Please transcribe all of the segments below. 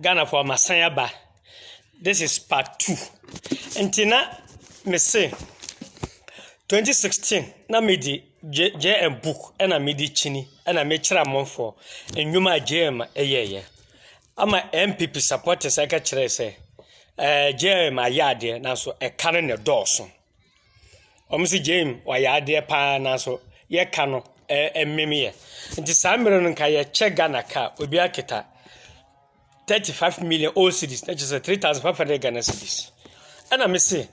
Ghanafoɔ masan aba this is part two nti na mese 2016 na mede JM book ɛna mede kyini ɛna mekyerɛ amanfoɔ nnwuma a JM ɛyɛɛyɛ ama NPP supporters ɛka kyerɛ sɛ ɛɛ JM ayɛ adeɛ nanso ɛka no na ɛdɔɔso Wɔse Jane wayɛ adeɛ paa nanso yɛ ka no ɛmem yɛ. Nti saa mmerɛ no nka yɛkyɛ Ghana ka a obi aketa thirty five million old cedis na kyerɛ sɛ three thousand five hundred Ghana cedis. Ɛna me se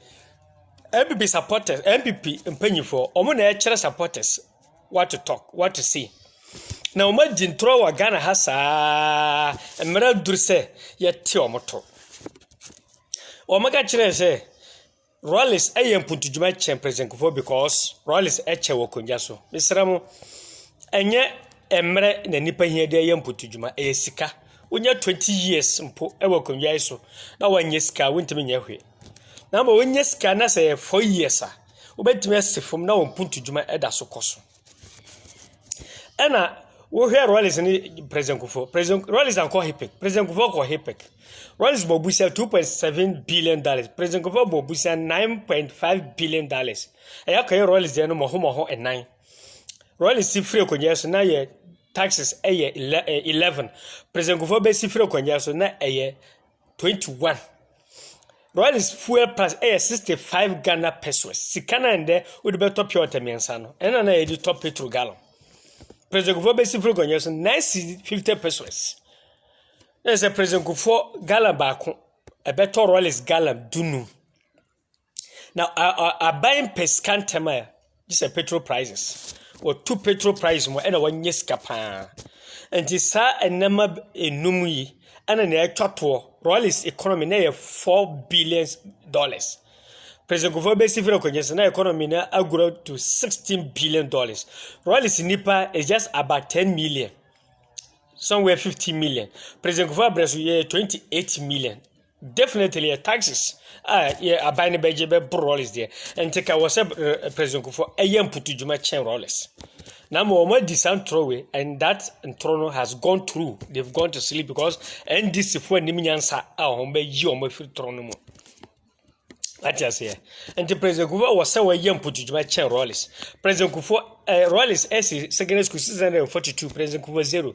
NPP supporters NPP mpanyinfoɔ wɔn na ɛkyerɛ supporters what to talk what to say. Na wɔn adi ntorɔ wɔ Ghana ha saa mmerɛ aduru sɛ yɛte wɔn to. Wɔn ka kyerɛ sɛ. Rawlings yɛ mpontudwuma kyɛn President Kufuor because Rawlings kyɛ wɔ akonnwa so. Mesrɛ mo, ɛnyɛ mmerɛ na nnipa hia de ayɛ mpontudwuma, ɛyɛ sika. Wonya 20 years mpo wɔ akonnwa yi so na wɔnyɛ sika a, wontumi nyɛ hwee. Na ama wonya sika na sɛ ɛyɛ 4 years a, wobɛtumi asi fam na wɔn mpontudwuma da so kɔ so. Ɛna wohwɛ Rawlings ne President Kufuor. President Rawlings ankɔ HIPC. President Kufuor kɔ HIPC. Rawlings bɔ busa 2.7 billion dollars. President Kufuor bɔ busa 9.5 billion dollars. Ɛyɛ kɔyɛ Rawlings deɛ no mɔho mɔho ɛnan. Rawlings si firi akonnwa so na yɛ taxes ɛyɛ 11. President Kufuor bɛsi firi akonnwa so na ɛyɛ 21. Royalist fuel pass yɛ 65 Ghana pesos. Sika no a ɛndɛ wode bɛtɔ pure water mmiɛnsa no, ɛna na yɛde tɔ petrol gallon. President Kufuor bɛsi firi nkonnwa so 9 cedi 50 pesos. Na sɛ President Kufuor gallon baako, ɛbɛtɔ royalist gallon dunum. na aban pɛ sika ntɛm a gye sɛ petrol prices wɔtu petrol price mu ɛna wɔnyɛ sika paa nti saa nneɛma enum yi ɛna na ɛtwa toɔ royalist economy na yɛ four billion dollars president kofi bɛsi fira kɔnyɛ sɛ na economy na agorɔ to sixteen billion dollars royalist nipa is just about ten million somewhere fifty million president kofi abirɛ so yɛ twenty eight million. Definitely yɛ taxes a yɛ aban no bɛgye bɛboro Rawlings deɛ nti ka wɔ sɛ President Kufuor ɛyɛ mputu dwuma kyɛn Rawlings na ma wɔn adi saa ntorɔ wei and that ntorɔ no has gone through they've gone to sleep because NDC fo anim nyansa a wɔn bɛyi wɔn afiri torɔ no mu ate aseɛ nti President Kufuor wɔ sɛ wɔyɛ mputu dwuma kyɛn Rawlings President Kufuor eh, Rawlings ɛsi secondary school six hundred and forty two President Kufuor zero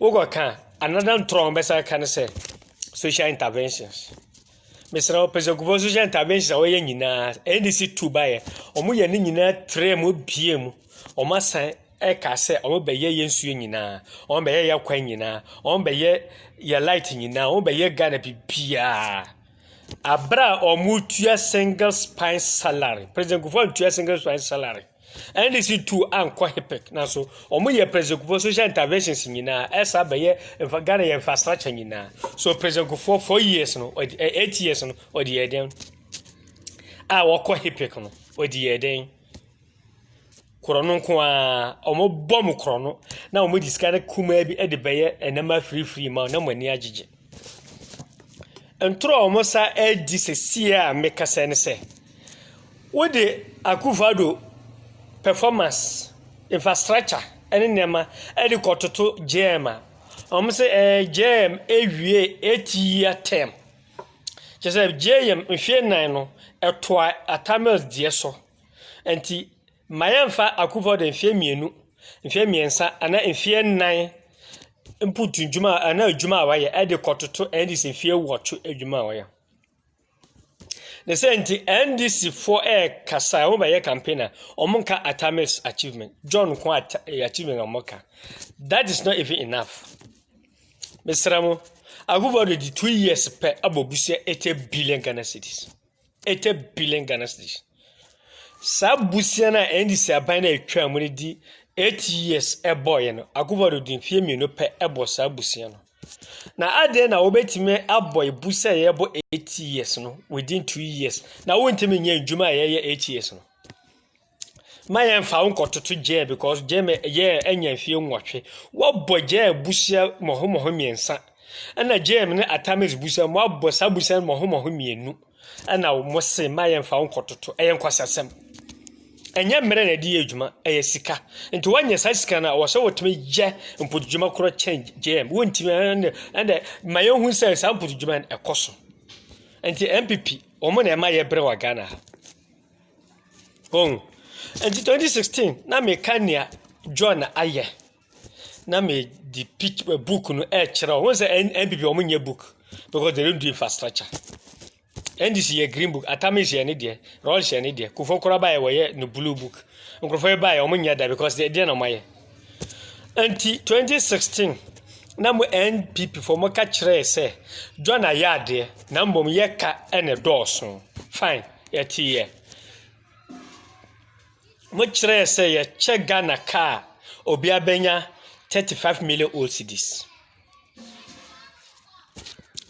Wokɔ ka a, another ntorɔ a wɔbɛsan aka ne sɛ social interventions. Mesrɛ wo, pɛsɛkufoɔ social interventions a wɔyɛ nyinaa, NDC tu baeɛ, wɔyɛ ne nyinaa trɛ mu, bie mu, wɔasan ɛka sɛ wɔbɛyɛ yɛ nsuo nyinaa, wɔbɛyɛ yɛ kwan nyinaa, wɔbɛyɛ yɛ light nyinaa, wɔbɛyɛ Ghana bibiaa. Abere a wɔtua single spine salary, pɛsɛkufoɔ antua single spine salary. NDC tu ankɔ HIPC nanso wɔyɛ President Kufuor social interventions nyinaa ɛsa bɛyɛ nfa Ghana yɛ infrastructure nyinaa so President Kufuor four years no eight years no ɔde yɛ dɛn a wɔkɔ HIPC no ɔde yɛ dɛn korɔ no nko ara wɔbɔ mu korɔ no na wɔde sika no kumaa bi de bɛyɛ nneɛma firifiri ma na mo ani agyegye Ntoro a wɔn sa redi sesie a mekasa yi ne sɛ, wode Akuffo Addo performance, infrastructure ne nneɛma de rekɔtoto JEM a, wɔse ɛɛ JEM awie eight year term. Kyerɛ sɛ JEM mfeɛ nnan no, ɛtoa Atta Mills deɛ so. Nti . Mma yɛmfa Akufor de mfeɛ mmienu, mfeɛ mmiɛnsa anaa mfeɛ nnan mpo to dwuma anaa adwuma a wayɛ de kɔtoto NDC mfeɛ wɔtwe adwuma a wayɛ. Ne sɛ nti NDC foɔ ɛrekasa a wɔbɛyɛ campaign a wɔn nka Atame's achievement, John nko eh, achievement wɔn ka. That is not even enough. Mesra mo, Akufor de di two years pɛ abɔ busia eighty billion Ghana cedis. 80 billion Ghana cedis. Saa bosea no a NDC aban no a ɛtwaa mu no di 8 years ɛbɔɔyɛ no, Akufo-Addo di mfeɛ mmienu pɛ ɛbɔ saa bosea no. Na adɛn na wobɛtumi abɔ ebu sɛ yɛbɔ 8 years no within 2 years na wontumi nyɛ ndwuma a yɛyɛ 8 years no? ma yɛn fa wo nkɔtoto gyaa because gyaa mɛ yɛɛ anya mfie nwɔtwe wɔbɔ gyaa busua mɔho mɔho mmiɛnsa ɛna gyaa mu ne atamis busua mu abɔ saa busua mɔho mɔho mmienu ɛna wɔn se ma yɛn fa wo nkɔtoto ɛyɛ nkwasasɛm ɛnyɛ mmerɛ na ɛde yɛ adwuma ɛyɛ sika nti wɔnyɛ saa sika na wɔsɛ wɔtumi yɛ mpotodwuma korɔ kyɛn gyaa mu wɔntumi ɛna ɛna ma yɛn hu sɛ saa mpotodwuma ɛkɔ so nti npp wɔn na ɛma yɛ brɛ wɔ ghana ha. Wohu? Enti 2016 na meka nea John ayɛ na mede pic eh, book no ɛrekyerɛ wɔn. Wohu sɛ N- NPP wɔn nyɛ book because they don't do infrastructure. NDC yɛ green book, Atamis yɛ ne deɛ, Rolls yɛ ne deɛ, Kufuor koraa baeɛ wɔyɛ no blue book. Nkurɔfoɔ yi baeɛ wɔn nyɛ da because deɛ deɛ na wɔayɛ. Nti twenty sixteen na mo NPP foɔ mo ka kyerɛ sɛ John ayɛ adeɛ na mbom yɛ ka ɛna ɛdɔɔso fine yɛ te yɛ mo kyerɛ sɛ yɛ kyɛ Ghana kaa obi abɛnya thirty five million old cedis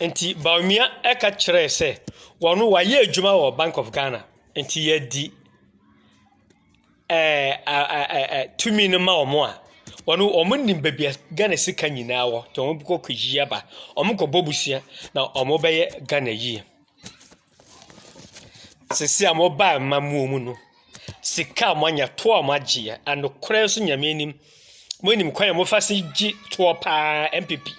nti Bawumia ɛka kyerɛ sɛ wɔn wayɛ adwuma wɔ Bank of Ghana nti yɛ di. ɛɛ tumi no ma wɔn a, wɔnim baabi a Ghana sika nyinaa wɔ. Nti wɔkɔ kɔyi aba. Wɔkɔbɔ bosea na wɔbɛyɛ Ghana yie. Seesei a wɔba amammuo mu no, sika a wɔanya, toɔ a wɔagyeɛ, and nokorɛ nso Nyame anim, monim kwan a wɔfa so gye toɔ pa ara, NPP.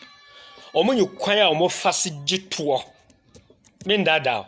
Wɔnim kwan a wɔfa so gye toɔ. Mennaadaa wo.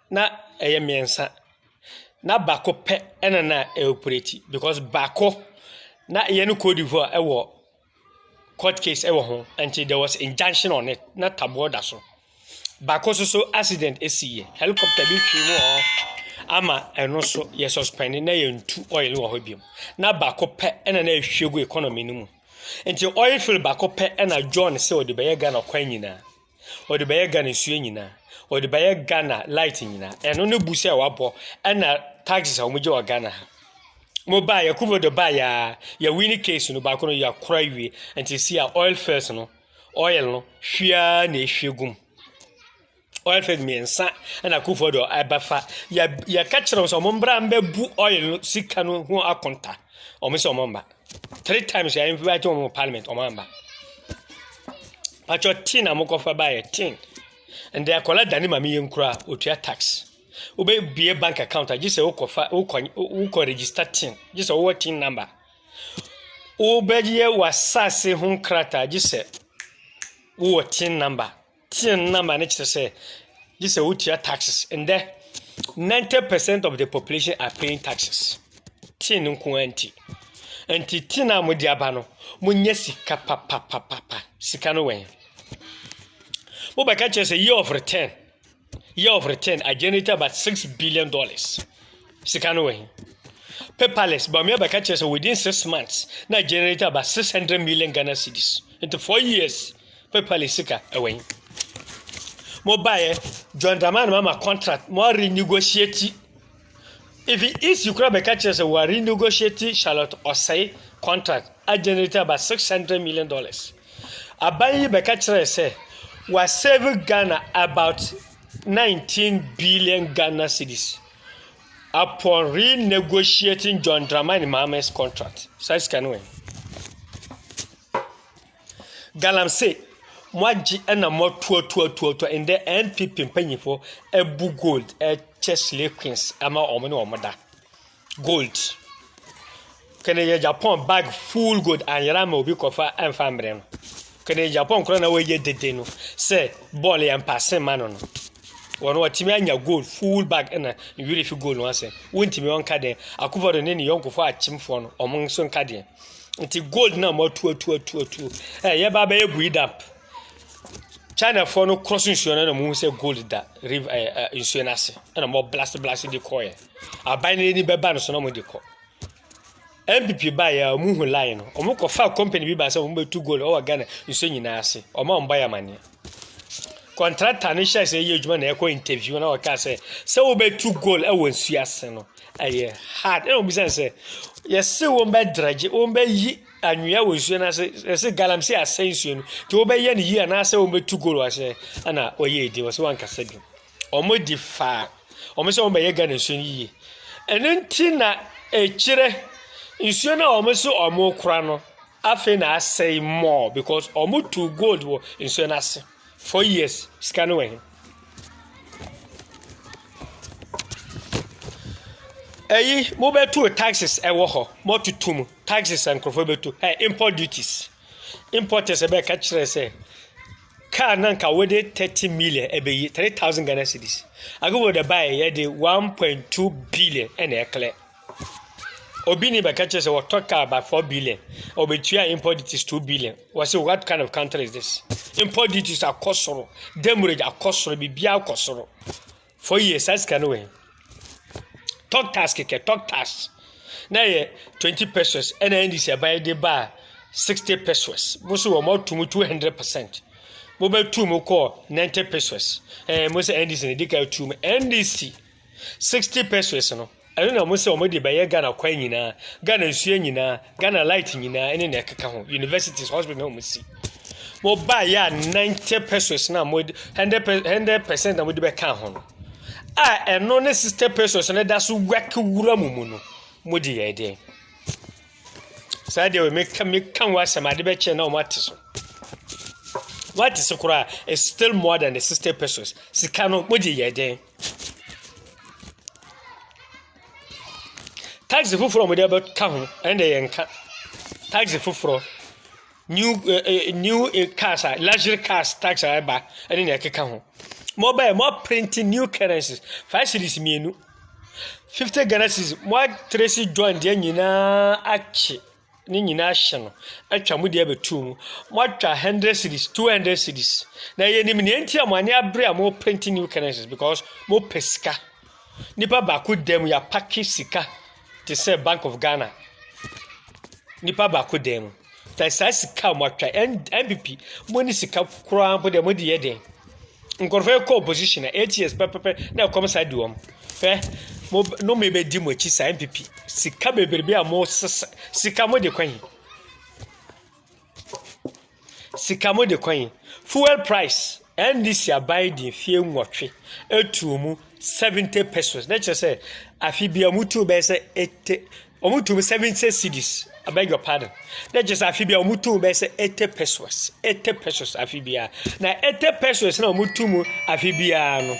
Na ɛyɛ mmiɛnsa, na baako pɛ na na ɛɔperati because baako, na yɛne Cote d'Ivoire wɔ court case wɔ ho nti there was injunction on it, na taboɔ da so. Baako nso so accident siiɛ, helicopter bi twee mu wɔ hɔ ama ɛno nso yɛ suspɛnde na yɛntu oil wɔ hɔ bio. Na baako pɛ na na ɛhwie gu economy no mu. Nti oil field baako pɛ na John sɛ ɔde bɛyɛ Ghana kwan nyinaa. Ɔde bɛyɛ Ghana nsuo nyinaa. Ɔde bɛyɛ Ghana light nyinaa. Ɛno ne bu sɛ wabɔ ɛna taxes a wɔgye wɔ Ghana ha. Mobaeɛ, Akuffo Addo baeɛ ara, yɛwini case no, baako no yɛakora awie. Nti si a oil first no, oil no hwie ara na ɛhwie gu mu. Oil first mmiɛnsa ɛna Akuffo Addo ɛbɛfa. Yɛka kyerɛ wɔn sɛ wɔmmra mmɛbu oil no sika no ho akonta. Wɔn sɛ wɔmma. three times yɛ invite wɔn wɔ parliament wɔn amba patro tin na mokɔfa ba yɛ tin ndɛ akɔla dani ma mi yɛ nkura otua tax wobɛ bie bank account a gye sɛ wokɔfa wokɔ wokɔ register tin gye sɛ wowɔ tin number wobɛyɛ w'asase ho krataa gye sɛ wowɔ tin number. Tsen number no kyerɛ sɛ gye sɛ wotua taxes. Ndɛ, 90 percent of the population are paying taxes. Tsen nko ara nti. Nti tsen a wɔde aba no, wɔnya sika papapapapa. Sika no wɛn. Wobɛka kyerɛ sɛ year of return, year of return, I generated about six billion dollars. Sika no wɛn. Paperless, but me bɛka kyerɛ sɛ within six months, na I generated about 600 million Ghana cedis. Nti four years. Paper le sika ɛwɛn. Mo baeɛ John Dramani ma ma contract mo a renegotiate. Even EC kura bɛka kyerɛ sɛ wɔ renegotiate Charlotte Osei contract a generate about six hundred million dollars. Aban yi bɛka kyerɛ sɛ wɔ save Ghana about nineteen billion Ghana cedis upon renegotiating John Dramani Mahama's contract. Saa sika no wɛn. Galamsey, moagye na moatuatuatuatua, ndɛ NPP mpanyimfo bu gold kyɛ slay queens ma wɔn ne wɔn da. Gold. Kɛne yɛ Japan bag full gold anyera ama obi kɔfa ɛmfa mmerɛ no. Kɛne yɛ Japan koraa na wɔyɛ dede no sɛ bɔɔl yɛ mpaase ma no no. Wɔn wɔtumi anya gold full bag ɛna nwiri fi gold no asɛm. Wontumi wɔn nka deɛ akufado ne ne yɔnkofoɔ akyemfoɔ no wɔn nso nka deɛ. nti gold na mo atu atu atu atu ɛ yɛ ba bɛyɛ bui dap china foɔ no kɔ so nsuo no na mo hu sɛ gold da river ɛ ɛ nsuo no ase ɛna mo blast blast de kɔ yɛ aban no ani bɛba no so na mo de kɔ npp ba yɛ ɔmo hu line no ɔmo kɔ fa company bi ba sɛ ɔmo bɛ tu gold ɔwɔ ghana nsuo nyinaa ase ɔmo a ɔmo ba yɛ amaneɛ. Kɔntrata no hyɛɛ sɛ yɛ adwuma na ɛkɔ interview na ɔka sɛ sɛ wobɛtu goal wɔ nsuo ase no ɛyɛ hard ɛna wɔbisa no sɛ yɛse wɔn bɛ drɛgye wɔn bɛyi anwea wɔ nsuo no ase yɛse galamsey asɛ nsuo no nti wobɛyɛ no yie anaasɛ wɔbɛtu goal wɔ ase ɛna ɔyɛ ɛdi wɔ sɛ wankasa bi wɔn di faa wɔn sɛ wɔn bɛyɛ Ghana nsuo no yie ɛno nti na ɛkyerɛ nsuo no a wɔn so wɔn kora no Afei na asɛe more because ɔmo tuu gold wɔ nsuo no ase four years sika no wɔ he. Ɛyi mo bɛ tuu taxes ɛwɔ hɔ mo tutu mu taxes nkorofo bɛ tu ɛ import duties importers ɛbɛ ka kyerɛ sɛ car na nka wɔde thirty million ɛbɛ yi three thousand Ghana cedis agogo de bae yɛ de one point two billion ɛna ɛklɛ. Obi ni bɛka kyerɛ sɛ wɔtɔ car about four billion, obetua import duties two billion. Wɔsi what kind of country is this? Import duties akɔ soro, demurrage akɔ soro, biribiara akɔ soro. Four years, saa sika no wɔ he? Talk tax kɛkɛ, talk tax. Na yɛ twenty pesos ɛna NDC ɛban de baa sixty pesos. Mo so wɔn atu mu two hundred percent. Mo bɛtu mu kɔɔ ninety pesos. Ɛɛ mo sɛ NDC na edi ka atu mu. NDC. Sixty pesewas no, ɛno na wɔn sɛ wɔn de bɛyɛ Ghana kwan nyinaa, Ghana nsuo nyinaa, Ghana light nyinaa ɛne na ɛkeka ho, universities, hospital na wɔn si. Wɔn ba yɛ a ninety pesewas na wɔn hundred hundred percent na wɔn de bɛka ho no, a ɛno ne sixty pesewas no da so wɛke wura mu mu no, wɔn de yɛ ɛdeɛ. Saa deɛ wɔn meka meka wɔn asɛm ade bɛkyɛ na wɔn ate so. Wɔate so koraa, it's still more than the sixty pesewas. Sika no wɔn de yɛ ɛdeɛ. Taxi foforɔ a wɔde abɛka ho ɛnna yɛn nka taxi foforɔ new ɛɛ new cars a luxury cars taxi a ɛreba ɛne nea ɛkeka ho wɔbae wɔaprinti new currency five cedis mmienu fifty Ghana cedis wɔatresi join deɛ nyinaa akye. ne nyinaa ahye no atwa mo de abɛtu mu. Moatwa hundred cities, two hundred cities. Na yɛnim nea nti a mo ani abere a moreprinte new currencies because mopɛ sika. Nipa baako dan mu yɛapake sika te sɛ Bank of Ghana. Nipa baako dan mu. Fɛ saa sika a moatwa NPP mo ne sika koraa mpo deɛ mode yɛ dɛn? Nkurɔfoɔ rekɔ opposition a eight years pɛpɛpɛ na ɛkɔm saa di wɔn hwɛ mo nom ebedi mo akyi saa npp sika bebrebe a mo sesa sika mo de kwan yi sika mo de kwan yi fuel price ndc aban di mfie nwɔtwe etuo mu seventy pesos na kyerɛ sɛ afi bia mo tuo bɛyɛ sɛ eighty Ɔmo tuu seventy cedis I beg your pardon na kyerɛ sɛ afe biara ɔmo tuu bɛyɛ sɛ eighty pesos eighty pesos afe biara na eighty pesos na ɔmo tu mu afe biara no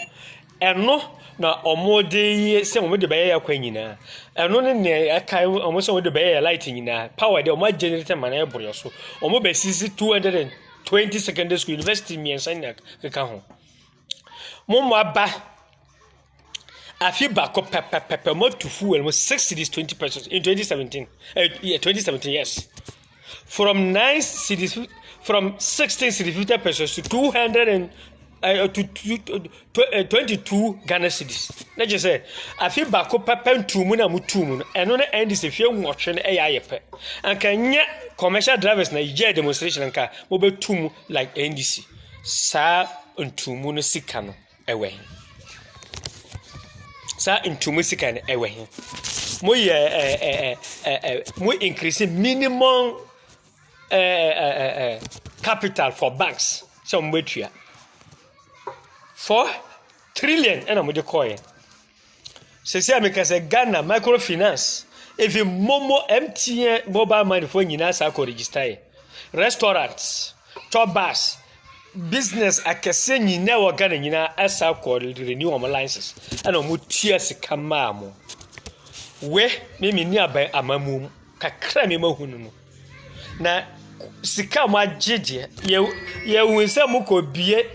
ɛno na ɔmo de yɛ sɛ ɔmo de bɛyɛ yɛ kwan nyinaa ɛno ne nea ɛka ɔmo sɛ ɔmo de bɛyɛ yɛ light nyinaa power deɛ ɔmo agyɛnɛrɛtɛ ma no ɛboro yɛ so ɔmo bɛ sisi two hundred and twenty secondary school university mmiɛnsa nyinaa keka ho mo mma ba. Afe baako pɛpɛpɛpɛ mo atu fuel mo six cities twenty pesos in twenty seventeen eh, yeah, twenty seventeen yes from nine cities from sixteen cities fifty pesos to two hundred and uh, to, to, to, to uh, twenty two Ghana cities na kyerɛ sɛ afe baako pɛpɛ ntuu mu na mo tuu mu no ɛno na ɛndi sɛ fie nwɔtwe no ɛyɛ ayɛ pɛ anka nyɛ commercial drivers na yɛ demonstration nka mo bɛ tuu mu like NDC saa ntuu mu no sika no Ɛwɔ he? Saa ntumu sika no ɛwɔ he? Mo yɛ ɛ ɛ ɛ ɛ ɛ mo increase minimum ɛ ɛ ɛ ɛ capital for banks sɛ wɔn bɛtua four trillion ɛna wɔde kɔɔɛ. Sɛsɛ a meka sɛ Ghana microfinance even momo MTN mobile money fo nyinaa saa kɔ register yɛ restaurant tour bus business akɛseɛ nyinaa wɔ Ghana nyinaa ɛsa kɔ renew wɔn license ɛna wɔn tua sika maa mo we me me ni aban amamu mu kakra mi ma hu no no na sika mo agye deɛ yɛ yɛ hu sɛ mo kɔ bie.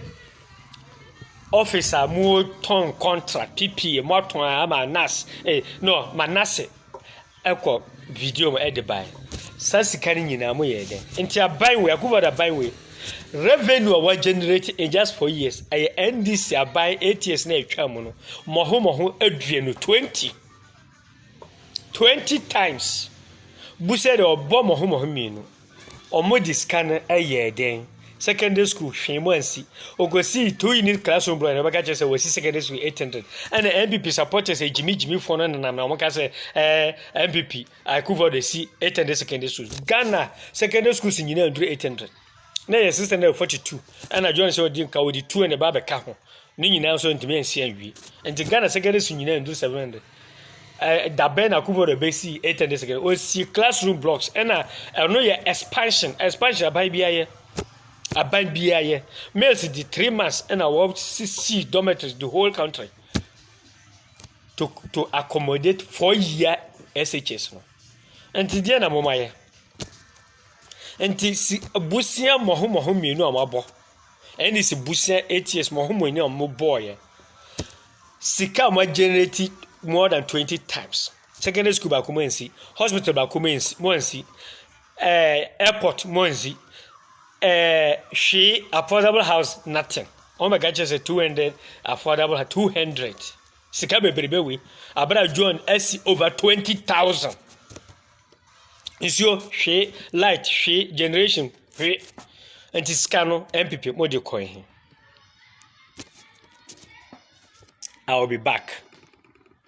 Office a motɔn contract, PPA, moatɔn a ama nurse eh, no, ma nurse ɛkɔ video mu ɛde bae. Saa sika no nyinaa mo yɛɛ dɛn? Nti aban wei, Akufo-Addo aban wei, revenue a wa generate in just four years, ɛyɛ NDC aban eight years na ɛtwa mu no, mɔho mɔho aduonu, twenty. Twenty times bu sɛ deɛ ɔbɔ mo ho mo ho mmienu ɔmo de sika no ɛyɛɛ dɛn secondary school hwee mo ansi okosii two unit classroom brɔ na ɔbɛka kyerɛ sɛ wɔsi secondary school eight hundred ɛna npp supporters ɛgyimi gyimi foɔ no nenam na ɔmo ka sɛ ɛɛ npp akufo de si eight hundred secondary school ghana secondary schools nyinaa nduru eight hundred. na yɛ sista na ɛfɔ titu ɛna john sɛ ɔdi nka ɔdi tuo na ɛba abɛka ho ne nyinaa nso ntumi ansi anwie nti ghana secondary school nyinaa ndu seven hundred ɛɛ dabɛn na akufo do bɛsi eight hundred secondary osi classroom blocks ɛna ɛno yɛ expansion expansion aban bi ayɛ aban bi ayɛ males di three months ɛna wɔsisi dormitories the whole country to to accommodate four year shs no nti deɛ na mo ma yɛ. Enti si abusua mmɔho mmɔho mmienu a wɔabɔ ɛne si busua eight years mmɔho mmienu a wɔbɔɔeɛ sika a wɔagenerate more than twenty times secondary school baako mu ansi hospital baako mu ansi mu ansi ɛɛ eh, airport mu ansi ɛɛ eh, hwee affordable house nothing wɔn bɛka kyerɛ sɛ two hundred affordable two hundred sika bebrebe wei abira john asi over twenty thousand. Nsuo hwee, light hwee, generation hwee. Nti sika no NPP mo de kɔe he. I will be back.